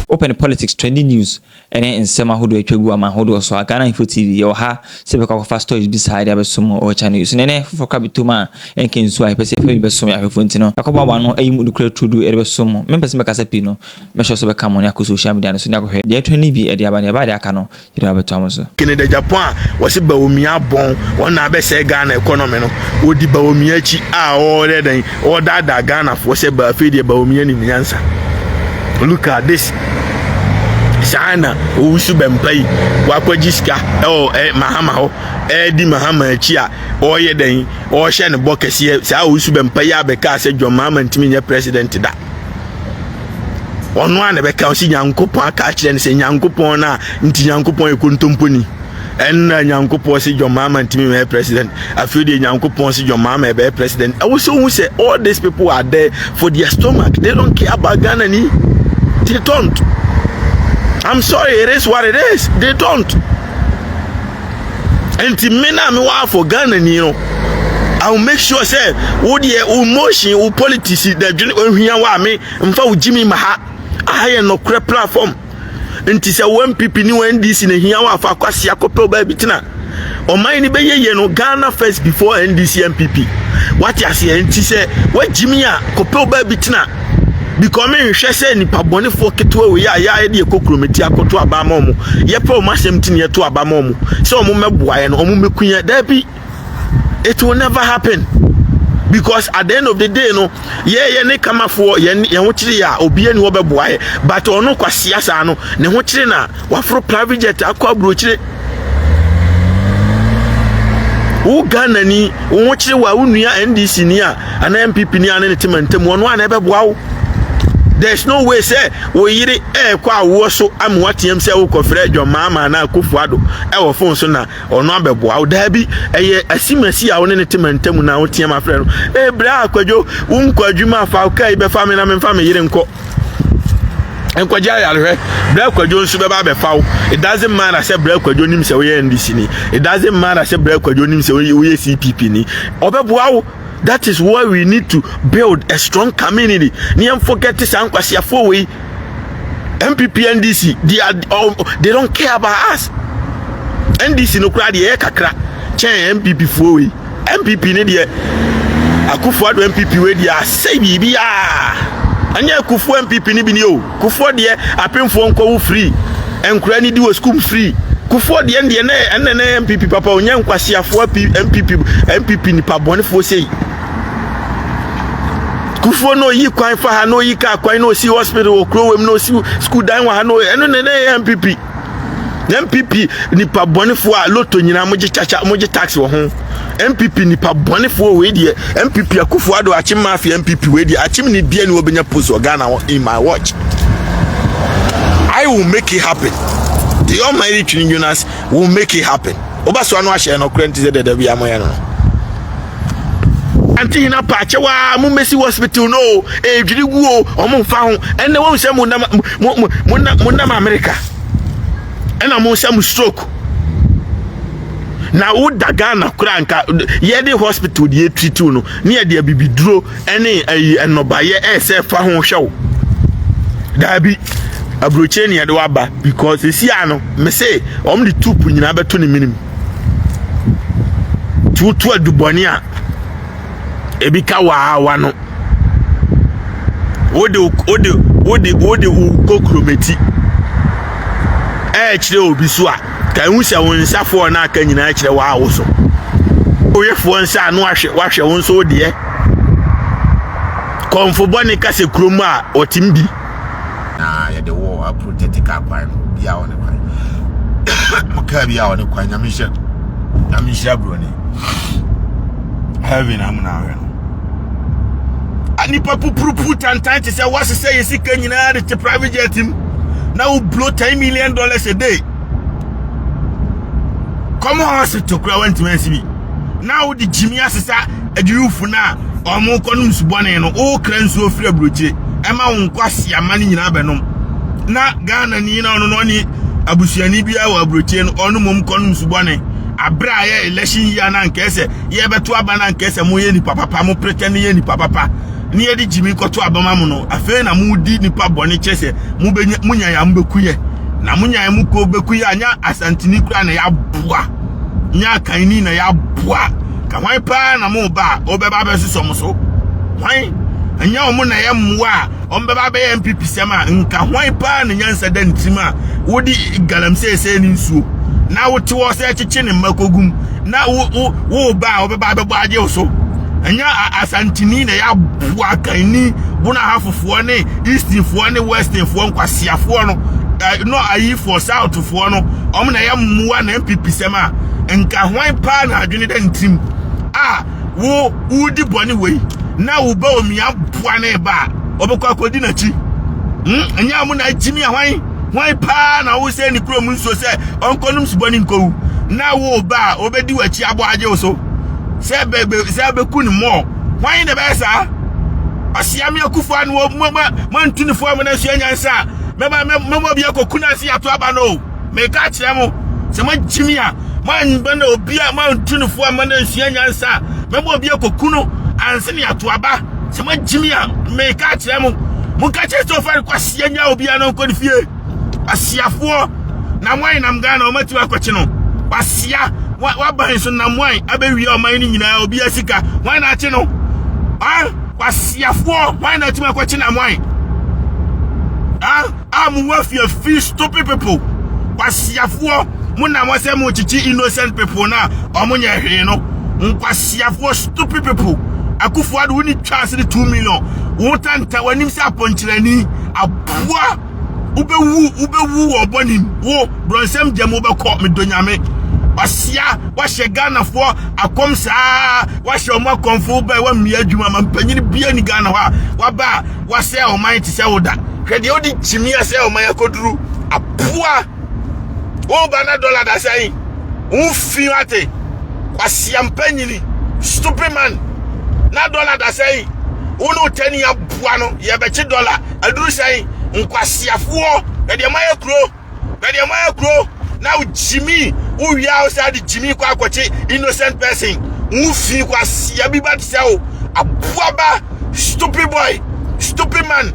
Wopɛ no politics, trending news ɛne nsɛm ahodoɔ atwa gu ama ahodoɔ so a, Ghana Info TV yɛwɔ ha sɛ bɛkɔ akɔfa stories bi saa de abɛsom wɔ wɔ channel yi so. Nɛnɛ foforɔ kora bɛtom a ɛnka nsuo a yɛpɛ sɛ yɛfa bi bɛsom yɛn ahwɛfoɔ nti no, yɛakɔboaboa ano ayi mu nokorɛ turodoo yɛde bɛsom mo. Mempɛ sɛ mɛkasa pii no, mɛhyɛ so bɛka mo ne akɔ social media no so ne akɔhwɛ deɛ trending bi de aba na yɛba de aka no yere abɛtɔ mo so. Canada Japan a wɔse Bawumia abɔn wɔn na abɛsɛe Ghana economy no wɔdi Bawumia akyi a wɔyɛ dɛn wɔredaadaa Ghanafoɔ sɛ ba afei deɛ Bawumia nim nyansa look at this saa na owusu bɛmpa yi wakɔgye sika ɛwɔ ɛ mahama hɔ ɛredi mahama akyi a wɔyɛ dɛn wɔhyɛ no bɔ kɛseɛ saa owusu bɛmpa yi abɛka sɛ John mahama ntumi nyɛ president da ɔno a na ɛbɛka ɔsi nyankopɔn aka akyerɛ no sɛ nyankopɔn no a nti nyankopɔn yɛ kontomponi ɛnna nyankopɔn si john mahama ntumi mɛ president afei deɛ nyankopɔn si john mahama ɛbɛyɛ president ɛwɔ sɛ ohun sɛ all these people are there for their stomach they don't care about ghana ni they don't i'm sorry it is what it is they don't. nti me na me wɔ afɔ ghana ni no I will make sure sɛ wo deɛ wo motion wo politics dadwene ohia wɔ a me mfa wo gyimi ma ha aha yɛ nɔkorɛ platform nti sɛ wo npp ne wo ndc na ehia wɔ afa akwasi akɔpɛ ɔbaa bi tena ɔman ni bɛyɛ yie no ghana first before ndc npp wate aseɛ nti sɛ woagyimi a kɔpɛ ɔbaa bi tena Because me nhwɛ sɛ nipa bɔnefoɔ ketewa wei a yɛa yɛde yɛkɔ kuromati akɔto aba ama ɔmo yɛpɛ ɔmo asɛm ti na yɛto aba ma ɔmo sɛ ɔmo mɛboa yɛ no ɔmo mɛku yɛ daabi it will never happen because at the end of the day no yɛyɛ ne kamafoɔ yɛn yɛn ho kyere yɛ a obiara ni hɔ bɛboa yɛ but ɔno kwasea saa no ne ho kyere na waforo private jet akɔ aburokyire wo ghana ni wo ho kyerɛ wo a wo nua ndc ni a anaa npp ni a ne ne te mantam ɔno a na ɛbɛboa wo there is no way sɛ wo yere ɛrekɔ awoɔ so ama wateam sɛ wokɔfrɛ dwɔmaama anaa kofu ado ɛwɔ fon so na ɔno abɛboa wo daa bi ɛyɛ asimasi a wo ne ne te mantam na woteam afrɛ no ɛbrɛ akwadwo wonkɔ adwuma afa wo kaa yi bɛfa me na memfa me yere nkɔ nkɔgye ayarehwɛ brɛ kwadwo nso bɛba abɛfa wo it doesn't matter sɛ brɛ kwadwo nim sɛ woyɛ ndc ni it doesn't matter sɛ brɛ kwadwo nim sɛ woyɛ cpp ni ɔbɛboa wo that is why we need to build a strong community ne yɛn forget saa nkwasiafoɔ wei npp ndc they are oh, they don't care about us ndc no koraa deɛ ɛyɛ kakra kyɛn npp foɔ wei NPP ne deɛ Akufo Addo NPP wei deɛ asɛe biribiara ɛnyɛ Akufo NPP ne bi ni o Kufoɔ deɛ apemfoɔ nkɔwo firi nkura ne di wɔ sukuu firi Kufoɔ deɛ deɛ ne ɛnna ne NPP papa onyɛ nkwasiafoɔ NPP NPP nipa bɔnefoɔ sei Kufoɔ na oyi kwan fa ha na oyi kaa kwan na osi hospital wɔ kuro wɔ mu na osi sukuu dan wɔ ha na ɛno ne ne NPP. npp nipa bɔnefoɔ a loto nyinaa mogye kyakya mogye tax wɔ ho npp nipa bɔnefoɔ wei deɛ npp akufo ado akyem mafia npp wei deɛ akyem ne bia ne wɔbɛnya post wɔ ghana in my watch i will make it happen the almighty twin jonas will make it happen woba so ano ahyɛ no korɛ nti sɛ dɛdɛ bi amoyɛ no no ante hena pa akyɛw a mo mmesi hospital no o edwiri gu o ɔmo nfa ho ɛnna wɔn sɛ mo nam mo mo mo nam mo nam amerika ɛnna mo sɛ mo stroke na woda ghana kora nka yɛde hospital deɛ etiritiw no ne yɛde abibiduro ɛne ɛyi ɛnɔbayɛ ɛsɛ fa ho hwɛw daabi aburokyire ne yɛde waba because esi ano mese wɔn de tuupu nyinaa bɛto ne minimu. tuutu adubɔne a ebi ka waawa no wode wode wode wode wo kokuromati ɛrekyerɛ obi so a ka ehu sɛ wo nsa fɔɔ no aka nyinaa kyerɛ waawo so woyɛ foɔ nsa ano ahwɛ wahwɛ wo nso deɛ kɔnfobɔne kasa kurom a ɔtem bi na yɛde wɔ aprotɛtika akwan no bi a ɔne kwan mo kaa bi a ɔne kwan nyame hyɛ nyame hyɛ aburoni heaven amuna ahwɛ no nipa pupurupu tantan te sɛ woasesɛ yɛ sika nyinaa de te private jet mu na wo blow ten million dollars a day kɔmɔ hospital kura wantumi ansi bi na wode gyimi asesa adwuwufo no a wɔkɔnom nsubɔne no wokra nsuo firi aburokyire ɛma wo nkɔ aseama no nyinaa bɛnom na ghana ni na ɔno no ɔne abusuani biara wɔ aburokyire no ɔno mmom kɔnom nsubɔne aberɛ a yɛ election yia no ankaɛ sɛ yɛbɛto aba no ankaɛ sɛ moyɛ nipa papa mo pretɛ no yɛ nipa papa ne yɛde gyimi kɔto abama mo no afei na modi nipa bɔne kyerɛ sɛ mobɛnya monyae a mobɛkuyɛ na monyae mo kuo bɛkuyɛ anya asanteni kura na yɛaboa nyɛ akanni na yɛaboa ka hwan paa na mo ba a wɔbɛba abɛsosɔ mo so hwan ɛnyɛ wɔn na ɛyɛ mmoa a wɔbɛba abɛyɛ npp sɛm a nka hwan paa na nyansa da ne tirim a wode galamsey sɛ ne nsuo na wote wɔ sɛ kyekye ne mma kogum na wo wo wo ba a wɔbɛba abɛbɔ agye wo so ɛnyɛ asantini na yɛaboa akanni bonahafofoɔ ne eastinfoɔ ne westinfoɔ nkwasiafoɔ no no ayifoɔ south foɔ no wɔn na yɛ mmoa na npp sɛm a nka hwan paa na adwene da ne tirim a wo wodi bɔne wei na wo ba omi aboa ne ba a ɔbɛkɔ akɔdi n'akyi hmm? ɛnyɛ ɔmo na agyimi a hwan hwan paa na wo sɛ ne kurom nsuo sɛ ɔnkɔnom subɔ ne nkɔwu na wo ba a ɔbɛdi w'akyi abɔ agye wo so sɛ bɛbɛ sɛ bɛku ne mmɔɔ hwan na ɛbɛyɛ saa ɔseame akufo ano mo mo mo antu ne fo amena nsuo anyansa mɛba mɛma obi akɔ kunasi ato aba no meka akyerɛ mo sɛ moagye me a moanba na obi a moantu no fo amma no ansua nyansa a mɛma obi akɔ ku no anse ne ato aba sɛ moagye me a meka akyerɛ mo monka kyerɛ sɛ ɔfa no kɔ aseɛ nya obiara na ɔnkɔ ne fie asiafoɔ na moayɛ nam ghana ɔmatumi akɔkye no wasia waban so nam wan abɛwie ɔman no nyinaa obi asika wan na akye no ah Kwasiafoɔ hwan na atumi akɔkye nam hwan a mowɔ afiafi stupid people kwasiafoɔ mo nam hɔ sɛ mokyekye innocent people no a ɔmonyɛ hwee no nkwasiafoɔ stupid people akufoɔ ade wone twa ase de 2 million wotanta w'anim sɛ apɔnkyerɛni aboa wobɛwu wobɛwu wɔ ɔbɔ nim wo borɔnsɛm gyam wobɛkɔ medɔ nyame ɔsea wahyɛ ghanafoɔ akɔm saa wahyɛ ɔmo akɔmfo bɛɛ wammea adwuma ma mpanyini bia ni ghana hɔ a waba a wasɛ ɔman te sɛ woda hwɛ deɛ wode kyimia sɛ ɔman akɔduru apoa wo Ghana dollar da sɛn wo fi ate kwasiampa nyini stupid man na dollar da sɛn wo ne wotani aboa no yɛbɛkye dollar aduru sɛn nkwasiafoɔ bɛdeɛ ma yɛ kuro bɛdeɛ ma yɛ kuro na gyimi wo wia wo sɛ de gyimi kɔ akɔkye innocent person wo fi kwasia bi ba te sɛ wo aboa ba stupid boy stupid man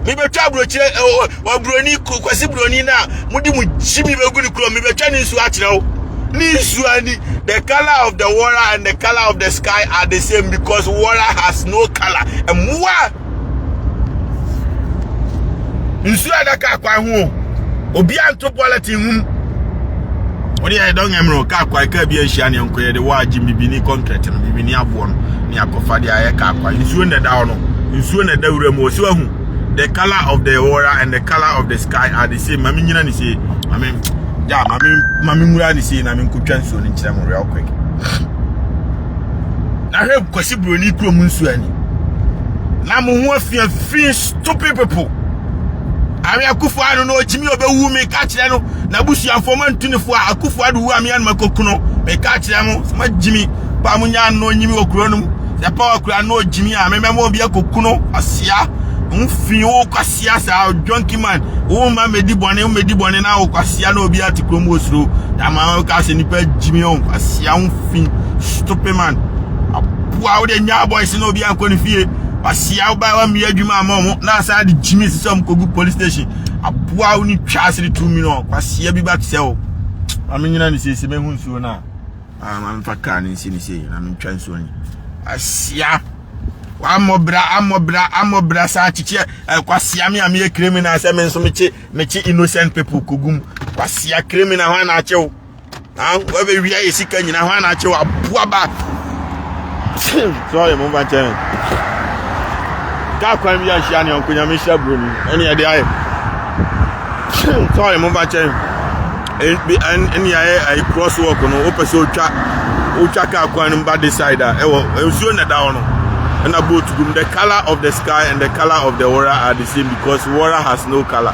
mebɛtwa aburokyire eh, oh, Oburoni kwasi buroni no a mode mo gyimi bɛgu ne kurom mebɛtwa ne nsuo akyerɛ wo ne nsuo ani the color of the water and the color of the sky are the same because water has no color mmoa nsuo a ɛda kaa kwan ho obi anto bulletin ho wode yɛ dɔn mmerɛ kaa kwan kaa bi anhyia ne nkɔyɛ de wɔ agye bibi ne concrete no bibi ne aboɔ no ne akɔfa de ayɛ kaa kwan nsuo na ɛda hɔ no nsuo na ɛda wura mu ɔsi wahu the color of the water and the color of the sky are the same mami nyina ne sie mami ja mami mami nwura ne sie na mi nkotwa nsuo ne nkyerɛ mu real quick na hwɛ kwasi buroni kurom nsuo ani na mo ho afia fi stupid people awe akufo ano na ɔkyimi ɔbɛwu mi ka kyerɛ no na busuafoɔ ma ntu ne fo a akufo ado wu a mi anoma kokuno mi ka kyerɛ mo ma gyimi pa mo nya ano nyimi wɔ kuro no mu sɛ paul kura no ogyimi a mɛmɛma obi akoku no asia ho fi wo kwasia saa junkie man wo ma medi bɔne wo medi bɔne na wo kwasia na obi ate kurom wɔ suro na ma wo ka sɛ nipa gyimi ho kwasia ho fi stupid man aboa wo de nya boys na obi ankɔ ne fie kwasia wo ba wa mmea adwuma ama ɔmo na asan de gyimi sisɛ ɔmo kogu police station aboa wo ne twa ase de tu mi no kwasia bi ba te sɛ wo ma menyina ne siesie mehu nsuo no a Ah, ma mfa kaa no nsi no sei na mentwa nsuo no. Asia! Wammɔbra, ammɔbra, ammɔbra saa kyekyeɛ. Eh, kwasia me a meyɛ criminal sɛ me nso mekye, mekye innocent people kogum. Kwasia criminal hɔ ana akye wo. Ah, wabɛwia yɛ sika nyina hɔ ana akye wo. Aboa ba. Sorry, momfa nkyɛ me. Kaa kwan bi ahyia ne ɔnko nyame hyira buroni. Ɛne ɛde ayɛ. Sorry, momfa nkyɛ me. Ebi ɛne ayɛ ayi cross walk no wopɛ sɛ otwa otwa kaa kwan no ba this side a ɛwɔ nsuo na ɛda hɔ no ɛna boat gum the colour of the sky and the colour of the water are the same because water has no colour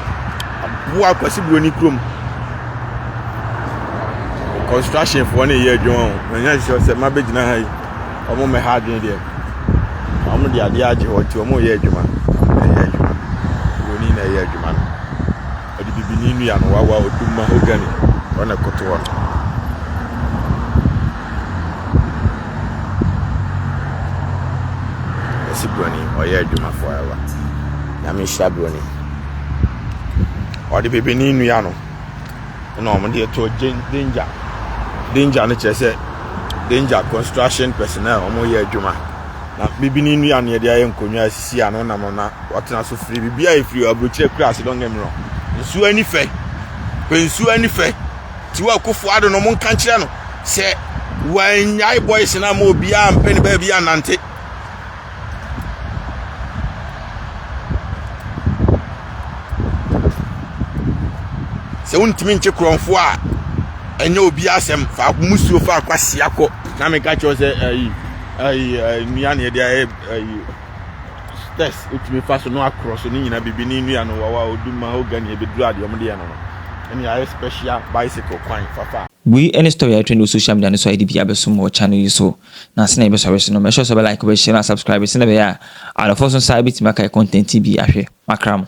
wo akwasi buroni kurom construction foɔ ne yɛ adwuma o na nyɛ sure sɛ ma bɛgyina ha yi wɔn mɛ ha adwene deɛ wɔn de adeɛ agye hɔ nti wɔn yɛ adwuma wɔn na ɛyɛ adwuma buroni na ɛyɛ adwuma no. Ɔde bibini nnua no wawa odum mahogany hɔ na ɛkoto hɔ no. Ɔsi broni ɔyɛ adwuma forever. Nyame nhyira broni. Ɔde bibini nnua no na wɔn de ɛto danger. Danger no kyerɛ sɛ danger construction personnel wɔn yɛ adwuma. Na bibini nnua no yɛde ayɛ nkonnwa asisi ano nam na. Wɔtena so firi biribiara a ɛfiri aburokyire kura ase, don't get me wrong. Nsuo ani fɛ. Pɛ nsuo ani fɛ. Tiwa Akufo Addo no, monka nkyerɛ no sɛ wannyae boys no ama obiara mpɛ ne baabi annante. Sɛ wontumi nkye korɔmfo a, ɛnyɛ obiara asɛm. Fa musuo fa akwasia kɔ. Na meka kyerɛ sɛ ayi ayi nnua na yɛde ayɛ ayi stairs wotumi fa so no akorɔ so ne nyinaa biribi ne nnua no wawa odu mahogany ebeduru adeɛ wɔn de yɛ no no ɛna yɛayɛ special bicycle kwan fafa. Wei ne story a ɛtrend wɔ social media no so a ɛde bi abɛsom wɔ channel yi so. Na sɛnea yɛbɛsɔre so no, make sure sɛ wobɛ like, wobɛ share, na asubscribe sɛnea ɛbɛyɛ a adɔfoɔ nso nsa bɛtumi aka yɛ content yi bi ahwɛ. Makra mo.